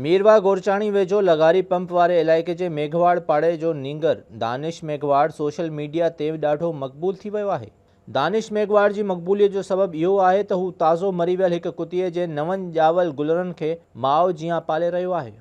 ميرواهه گورچاڻي ويجهو لغاري پمپ واري علائقي جي ميگهواڙ پاڙي جو نينگر دانش ميگهواڙ سوشل ميڊيا تي ڏاڍو مقبول ٿي ويو آهي دانش ميگهواڙ جي مقبوليت جو سبب اهو آهي ته هو تازو مري ويل هڪ ڪتي جي نون ڄاول گلرن کي ماء جيان پالي رهيو آهي.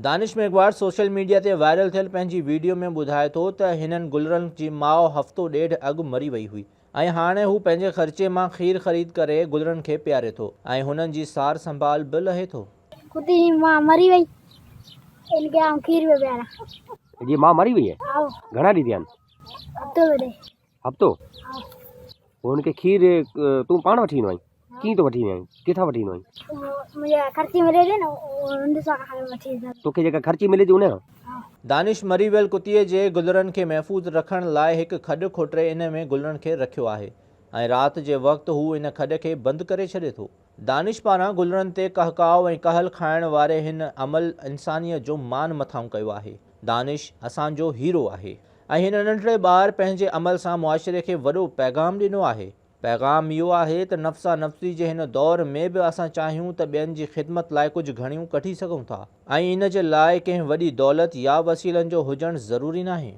دانش ميگهواڙ سوشل ميڊيا تي وائرل ٿيل پنهنجي ويڊيو ۾ ٻڌائي ٿو ته هنن گلرن جي ماء هفتو ڏيڍ اڳ مري وئي هئي ۽ هاڻي هو پنهنجي خرچي مان کير خريد ڪري گلرن کي پياري ٿو ۽ هنن جي سار سنڀال به لهي ٿو. ڪتي جي ماء مري وئي ان کي آئون کير پيو پياران. جي ماء مري وئي آهي. آئو. گهڻا ڏينهن ٿيا آهن. هفتو ٿو ٿئي. هفتو. آئو. پوء ان کي کير تون پاڻ وٺي ايندو آهين. ڪيئن ٿو وٺي وينء؟ ڪٿان وٺي ايندو آهين؟ مون کي خرچي ملي ٿي نه ان سان وٺي ايندو آهيان. توکي جيڪا خرچي ملي ٿي ان سان؟ ها. دانش مري ويل ڪتيء جي گلرن کي محفوظ رکڻ لاء هڪ کڏ کوٽري ان ۾ گلرن کي رکيو آهي ۽ رات جي وقت هو ان کڏ کي بند ڪري ڇڏي ٿو. دانش پاران گلرن تي ڪهڪاء ۽ ڪهل کائڻ واري هن عمل انسانيت جو مان مٿانهون ڪيو آهي. دانش اسان جو هيرو آهي ۽ هن ننڍڙي ٻار پنهنجي عمل سان معاشري کي وڏو پيغام ڏنو آهي. پيغام اهو آهي ته نفسا نفسي جي هن دور ۾ به اسان چاهيون ته ٻين جي خدمت لاء ڪجهه گهڻيون ڪڍي سگهون ٿا ۽ ان جي لاء ڪنهن وڏي دولت يا وسيلن جو هجڻ ضروري ناهي.